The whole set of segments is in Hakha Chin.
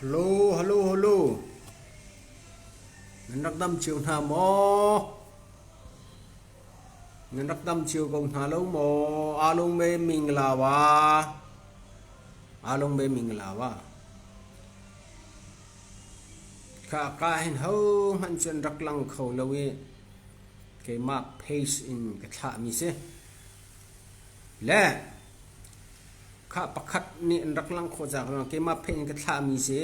Halo halo halo nan rak dam cio hna maw? Nan rak dam cio ko hna lo maw? Aa lungme mingla wa. Aa lungme mingla wa. Khaka hin ho hmanh cu an rak lang kho lo i keimah pace in ka thlah mi si. Le Khah pakhat nih an rak langh khawh cang rua. Keimah pheih in ka thlahmi si.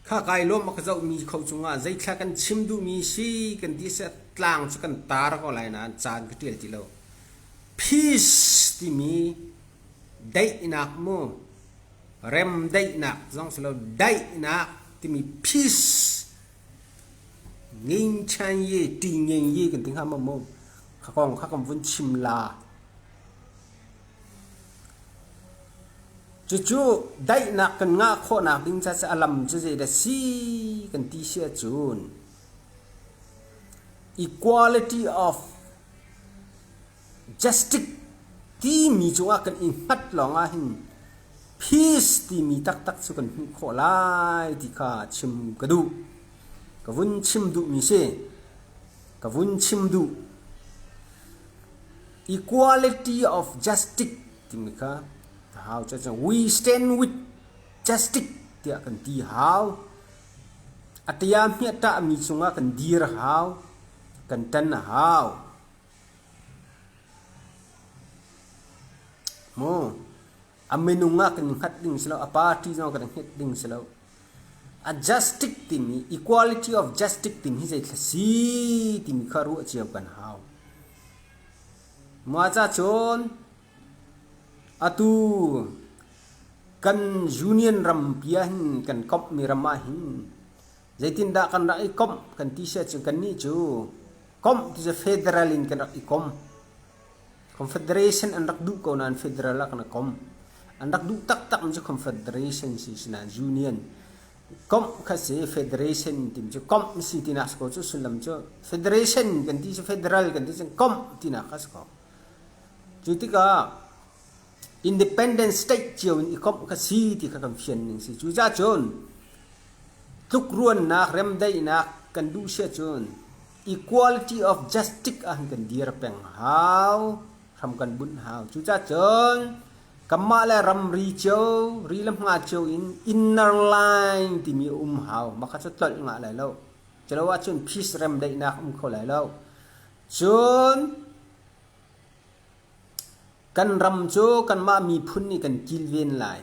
Kha kai lawm a ka zohmi kho cungah zeithla kan chim duhmi si kan ti seh tlang cu kan tar ko lai nain caan ka ṭial ti lo. Peace timi daihnak mu remdaihnak zong si lo daihnak timi peace nging ṭhan ye ṭi ngeng ye kan ti hnga maw mu. Kha kong kha kan vun chim la. Cucu daihnak kan ngah khawhnak ding caah a lam cu zeidah si kan ti si ahcun equality of justice timi cungah kan i hngat lawngah hin peace timi taktak cu kan hmuh khawh lai ti kha chim ka duh. Ka vun chim duhmi si. Ka vun chim duh. Equality of justice timi kha a hau cu we stand with justice tiah kan ti hau. Atia hmiahtah mi cungah kan dir hau, kan tan hau. Mu a minung ah kan hngat ding si lo a party zong kan hngat ding si lo a justice timi equality of justice timi hi zeithla si timi kha ruah cio kan hau ma cha chon atu kan union ram pia hin kan komh mi ram ah hin zeitin dah kan rak i komh kan ti sia chu kan ni chu komh ti federal in kan rak i kom Confederation an rak duh ko nain federal ah kan i kom. An rak duh taktakmi cu confederation si sinain union komh kha si federation timi cu komh si tinak si ko cu sullam cu federation kan ti cu federal kan ti cu komh tinak kha si ko. Cu tikah independent state cio in i komh kha si ti kha kan fian ning si. Cu cahcun tlukruannak, remdaihnak kan duh sia cun equality of justice ah hin kan dir peng hau hram kan bunh hau cucacun kanmah le ramri cio ri le hma cio in inner line timi um hau makha cu tlolh nga lai lo culo ahcun peace rem daihnak um kho lai lo cun kan ram cu kanmah miphun nih kan kilven lai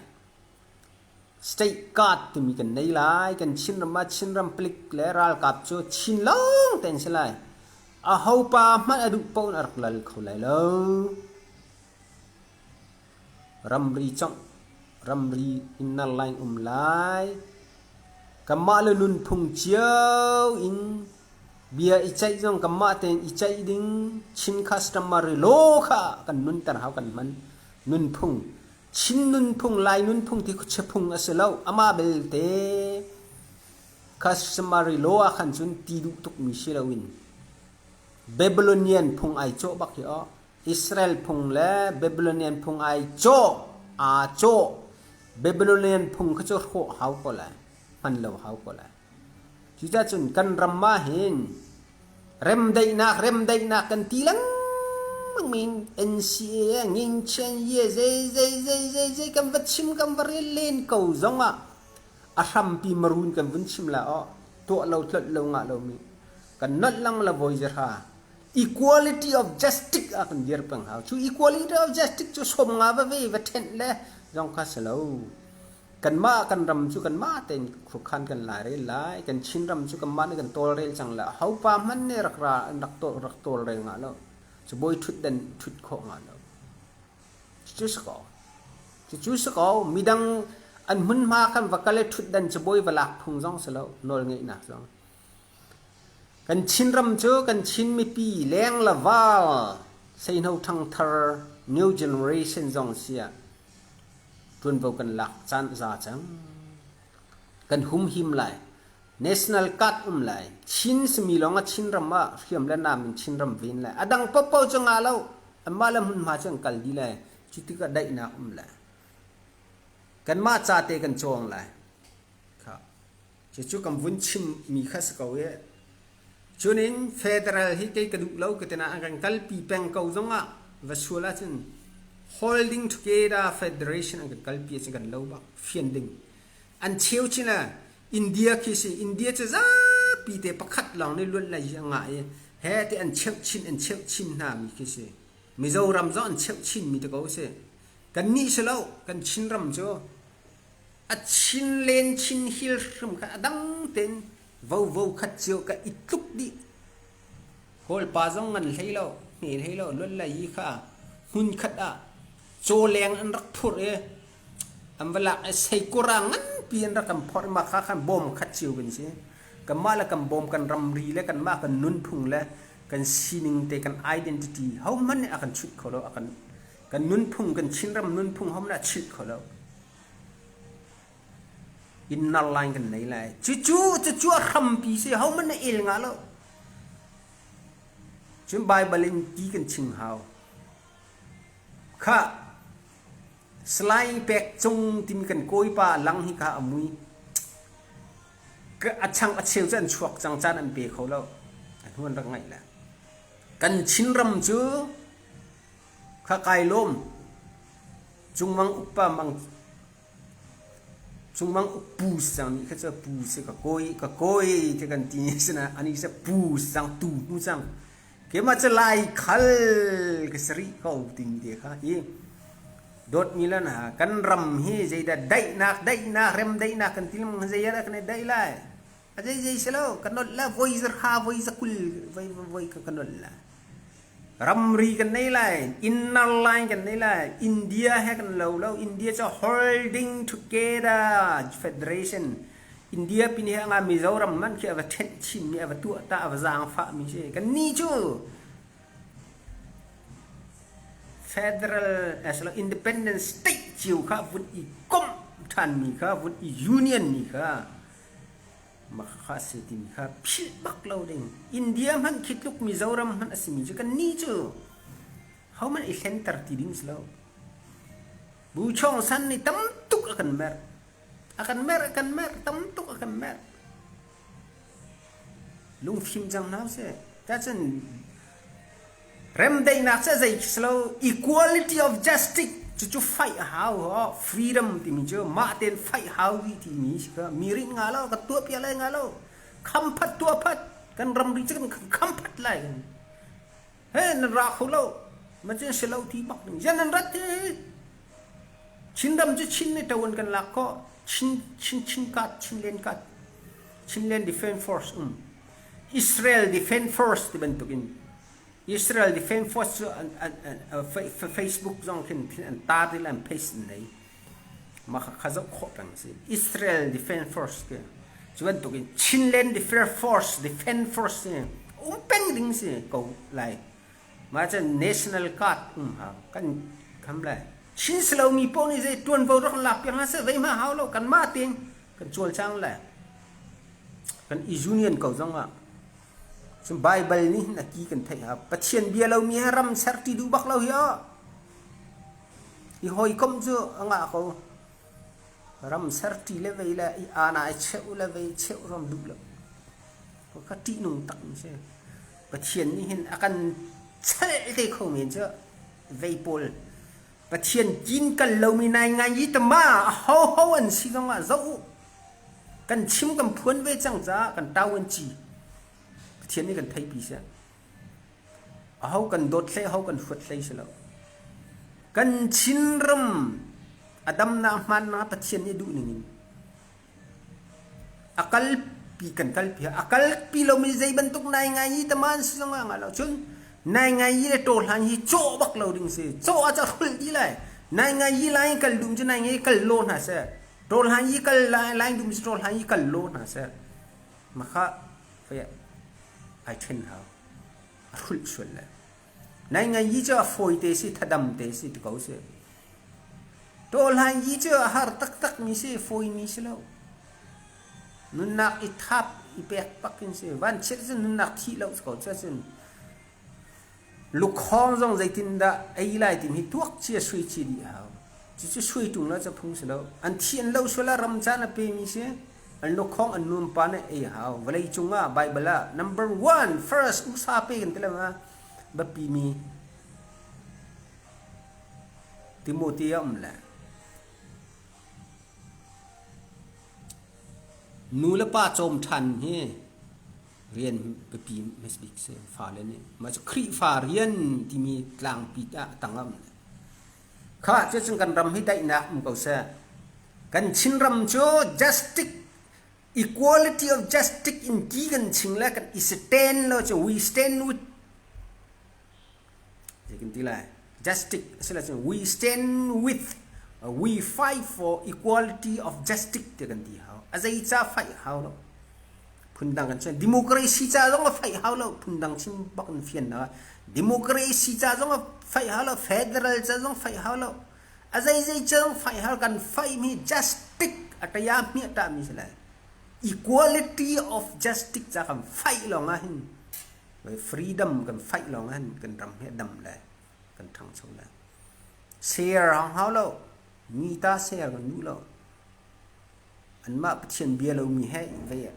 State card timi kan nei lai. Kan Chinram ah Chinram palik le ralkap cu Chin lawng te an si lai. Aho pa hmanh a duh paoh in a rak lal kho lai lo. Ramri congh, ramri in nar lai in um lai. Kanmah le nunphung cio in bia i ceih zong kanmah tein i ceih ding Chin customs ram ah rilo kha kan nunter hau kan hman. Nunphung Chin nunphung, Lai nunphung ti khuachia a si lo. Amah belte customary law ah khan cun ti duh tukmi si loin Babylonian phung ai cawh bak hi aw. Israel phung le Babylonian phung ai cawh aa cawh Babylonian phung kha cu hrawh hau ko lai hman lo hau ko lai Cucacun kan ram ah hin remdaihnak remdaihnak kan ti lengmangmi in NCA ah ngingchian ye zei zei zei zei zei kan va chim kan va rel len ko zong ah a hrampi marun kan vun chim la aw tuah lo tlolh lo ngah lomi kan nolh lang la voi ze hra equality of justice a kan dir peng hau cu equality of justice cu som nga va ve va thenh le zong kha si lo kanmah kan ram cu kanmah tein khrukhan kan lai rel lai kan Chin ram cu kanmah nih kan tawlrel cang lah hopa hmanh nih rak ra rak tawl rak tawlrel nga lo cu boi thut den thut kho nga lo cu sa ko cu sa ko midang an hmunhma kan va kale thut den cu boi valak phung zong si lo nawl ngeih nak zong Kan Chinram cu kan Chin mipi leng le val seihno ṭhangthar new generation zong si ah ṭuanvo kan lak caan a za cang. Kan humhim lai, national card um lai, Chin simi lawng a Chinram ah hriam le nam in Chinram ven lai. A dang paohpaoh cu ngah lo, anmah le hmunhma cu an kal dih lai. Cu tikah daihnak um lai. Kanmah ca te kan cawng lai. Cucu kan vun chimmi kha si ko e. Cunin federal hi kei ka duh lo ka tina a kan kalpi peng ko zongah va sual ahcun holding together federation an kan kalpi ahcun kan lo bak fian ding. An cheu chin a India khi si India cu zapi te pakhat lawng nih luat lai a ngah i he te an cheuh chin an cheuh chin hna mi khi si Mizoram zong an cheuh chin mi te ko si kan nih si lo kan Chin ram cu a chin len chin hil hrim kha a dang tein vovo khat cio ka i tluk dih holpa zong ngan hlei lo hne hlei lo lualla yi kha hmun khat ah cawleng an rak phur i an va lak i seikura ngan pi an rak kan phorh ma kha khan bawm khat cio kan si kanmah le kan bawm kan ramri le kanmah kan nunphung le kan sining te kan identity ho hmanh nih a kan chuit kho lo a kan kan nunphung kan chinram nunphung hom nih a chuit kho lo Inn nar lai in kan nei lai. Cucu cucu a hrampi si hohmanh na el nga lo. Cun Baibal in ti kan chim hau. Kha slai pek cung timi kan kawipa lang hi ka a mui. A chang a cheu cu an chuak cang caan an pe kho lo. A hnuan rak ngaih la. Kan Chin ram cu kha kai lawm. Cungmang upa mang cungmang pu sang mi kha cu pu si ka koi ka koi te kan ti sina ani se pu sang tu nu sang kema cha lai khal ka sari ko timi te kha i dot milan ha kan ram hi zeidah daihnak daihnak rem daihnak kan tilam zayat kan daih lai A zei zei si lo, ka nolh la, voi zar kha voi za kul, voi, voi, voi ka, ka nolh la. Ramri kan nei lai, inner line kan nei lai, India he kan lo lo, India cu holding together federation. India pin he nga Mizoram man khi ava ṭhenh chinmi, ava tuah ta, ava zaangfah mi si. Kan ni cu federal as lo independent state cio kha vun i komh ṭhanmi kha, vun i union mi kha, Mahkhah a si timi kha philh bak lo ding. India hmanh khi tluk Mizoram hmanh a simi cu kan ni cu hohmanh i hlenter ti ding si lo. Bu Chaung San nih tam tuk a kan merh. A kan merh, a kan merh, tam tuk a kan merh. Lungfim cang hna seh. Tacun Remdaihnak cu zei khi si lo equality of justice cucu faih a hau ho freedom timi cu mah tein faih hau rih timi si kha mi rinh nga lo ka tuah piak lai nga lo kham phat tuah phat kan ram ri cu kan kham phat lai kan he nan ra kho lo ma cin si lo ti bak ding yan nan rat hi Chindam cu Chin ni tawan kan lak ko Chin Chin Chin kat Chin len kat Chin len defense force um Israel Defense Force ti bantukin Israel Defense Force cu an, an, an, Facebook zong khin an tar i an pace in nei mah kha zoh khawh peng si Israel Defense Force ke cu bantukin Chinland Defense Force Defense Force si um peng ding si ko lai ma chan national guard um ha kan kam lai Chin silomi pawl nih zei tuanvo rak lak piang ha se zei ma hau lo kan ma ting kan cual chang lai kan i union ko zongah cu Bible nih hin a ki kan theih ha Pathian bia lomi he ram ser ṭi duh bak lo hi oh i hawikom cu a ngah ko ram ser ṭi le vei le i ana i cheuh le vei cheuh rom duh lo ko kha ṭihnung tak mi si Pathian nih hin a kan cheh te kho men cu vei pawl Pathian kinkal lomi nai ngai i tama ahoho an si zongah zoh u. Kan chim kan phuan ve cang caah kan tau an ci. Pathian nih kan theipi siah. Aho kan dawt hlei, aho kan huat hlei si lo. Kan chin ram adamnak hmannak Pathian nih duh ningin A kalpi kan kalpi a kalpi lomi zei bantuk nai ngai hi taman si zong ngah lo cun nai ngai hi le ṭaw hlan hi cawh bak lo ding si cawh ah ca hrulh dih lai nai ngai hi lai in kal dum cu nai ngai hi kal law hna seh ṭaw hlan hi kal lai lai dum si ṭaw hlan hi kal law hna seh makha fai ai ṭhen hau a hrulh sual lai Naingai hi cu a fawi te si, thadam te si ti ko sih. Tawhlai hi cu a har taktak mi si, fawi mi si lo. Nunnak i thap i pek pakin si. Van chiat cu nunnak thi lo ko cu cun. Lukhawng zong zeitin dah ei lai tim hi tuak cia sui ci dih a hau. Cucu sui ṭung lo cu phung si lo. An thi an lo suala ram caan a pe mi si. An lukhawng an nuampa na ei hau. Vawlei cungah Baibal ah number one first usa pe kan ti lengah biapi mi Timothy a um le nu le pa cawm ṭhan hi rian biapi masbik si fale nih mah cu Khrihfa rian timi tlangpi ah a tang a um. kha cu cun kan ram hi daihnak um ko seh kan chin ram cu justice equality of justice in ti kan ching le kan i stand lo cu we stand with kan ti lai justice asila cun we stand with uh, we fight for equality of justice ti kan ti hau azei ca fight hau lo phundang kan fian democracy ca zong a faih hau lo phundang chim bak in fian na democracy ca zong a faih hau lo federal ca zong faih hau lo a zei zei ca zong faih hau kan faih mi justice a taya mi a ta mi si lai equality of justice ca kan faih lawng ah hin freedom kan faih lawng ah hin kan ram hi dam le kan thang cho le share hang hau lo mi ta share kan duh lo anmah Pathian bia lomi he vei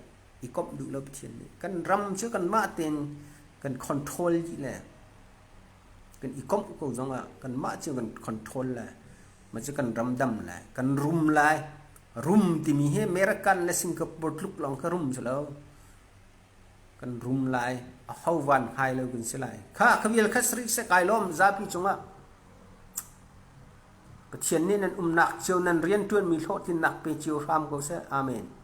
i komh duh lo Pathian nih kan ram cu kanmah tein kan control dih le kan i komh ko zongah kanmah cu kan control le mah cu kan ram dam lai kan rum lai rum timi hi American le Singapore tluk lawng kha rum si lo kan rum lai a ho van ngai lo kan si lai kha kha vial kha sri se kai lawm zapi cungah Pathian nih nan umnak cio nan rian ṭuanmi hlawhtlinnak pe cio hram ko seh. Amen.